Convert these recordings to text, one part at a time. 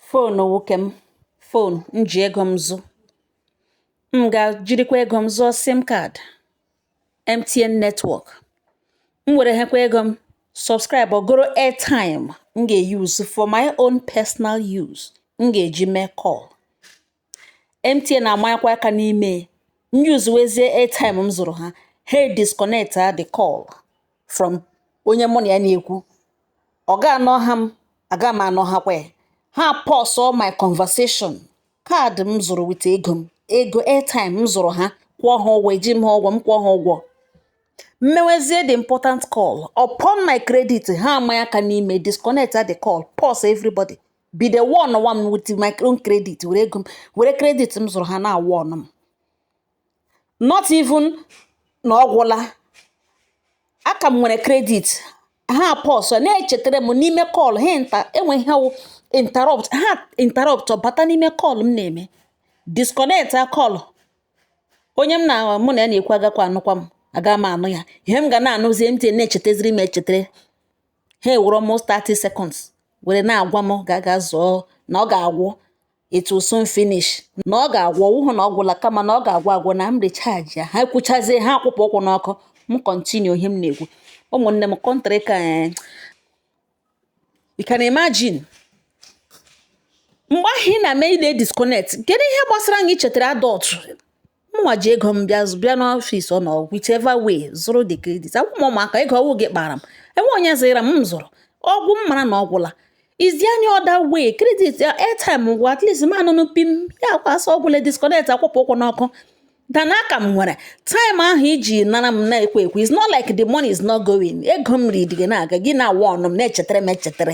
phone nwoke m phone m ji ego m zụ m ga-jirikwa ego m zụọ SIM card MTN network m were hekwa ego m subscribe or goro airtime m ga-use for my own personal use m ga-eji mee call MTN amanyekwa aka n'ime m usewezie airtime m zụrụ ha ha disconnect a the call from onye mụ na ya na-ekwu ọ ga anụha m aga m anụhakwa ya ha pause all my conversation card m zụrụ with ego m ego airtime m zụrụ ha kwụọ ha ụgwọ eji m ha ụgwọ m kwụọ ha ụgwọ m mewezie the important call upon my credit ha amanye aka n'ime disconnect a the call pause everybody bido warnwa m with my own credit were ego m were credit m zụrụ ha na-awarn m not even na ọ gwụla aka m nwere credit ha pause na-echetara m n'ime call ha nta enweghị ha wụ interrupt ha interrupt ọ bata n'ime call m na-eme disconnect a call onye m na mụ na ya na-ekwu agakwa anụkwa m aga m anụ ya ihe m ga na-anụzi MTN na-echetaziri m echetere ha ewere almost 30 seconds were na-agwa m ga aga zụọ na ọ ga-agwụ it will soon finish na ọ ga-agwụ ọ wụhụ na ọ gwụla kama na ọ ga-agwụ agwụ na m recharge ya ha kwuchazie ha akwụpụ ụkwụ n'ọkụ m continue ihe m na-ekwu ụmụnne m country ka eh, you can imagine mgbe ahụ ị na-eme ị na-edisconnect kedu ihe gbasara gị ichetara adult mụnwa ji ego m bịa bịa n'office ụnụ whichever way zụrụ the credit awụ m ụmụaka ego ọ wụ gị kpara m enwe onye ziri m zụrụ ọ gwụ m mara na ọ gwụla is any other way credit airtime ngwa at least m anụ pim ya akwasa ọ gwụle disconnect akwụpụ ụkwụ n'ọkụ than aka m nwere time ahụ iji nara m na-ekwe ekwe is not like the money is not going ego m riri gị na-aga gị na-awarn m na-echetara m echetara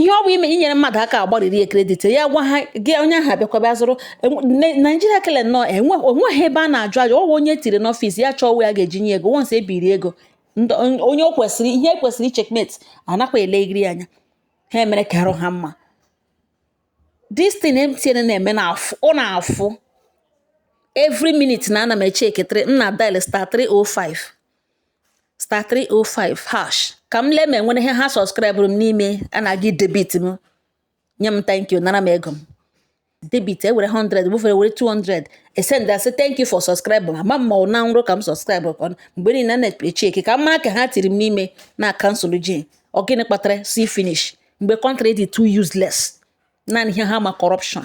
ihe ọ bụ ime inyere mmadụ aka agbarịrị ya credit ya gwa ha gị onye ahụ abịakwa bịa zụrụ enwe- ne- Nigeria kele nnọọ enwe onweghị ebe a na-ajụ ajụ ọ wụ onye tiri n'office ya chọọ onwe ya ga-eji nye ego once ebiri ego ndị- on- onye o kwesịrị ihe kwesịrị icheckmate anakwa elegiri anya ha emere ka arụ ha mma this thing MTN na-eme na afụ ọ na-afụ every minute na ana m echeketịrị m na dial star 305 star 305 hash ka m lee ma enwere ihe ha subscriberụ m n'ime a na-aga debit m nye m thank you nara m ego m debit ewere 100 bufere were 200 esend asị thank you for subscribe ma ma mma na nrọ ka m subscribe ka mgbe niile na echeck ka m mara ka ha tiri m n'ime na cancel je ọ gịnị kpatara see finish mgbe country dị too useless naanị ihe ha ma corruption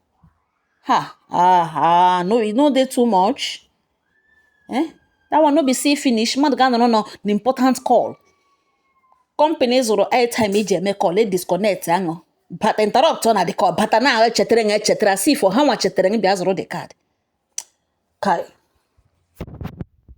ha ah ah no e no dey too much eh that one no be see finish mmadụ ga-anọrọ nọ the important call company zụrụ airtime eji eme call e disconnect aṅụ bata interrupt ọ na the call bata na-echetara ya echetara as if ọ ha nwa chetara ya bịa zụrụ the card kai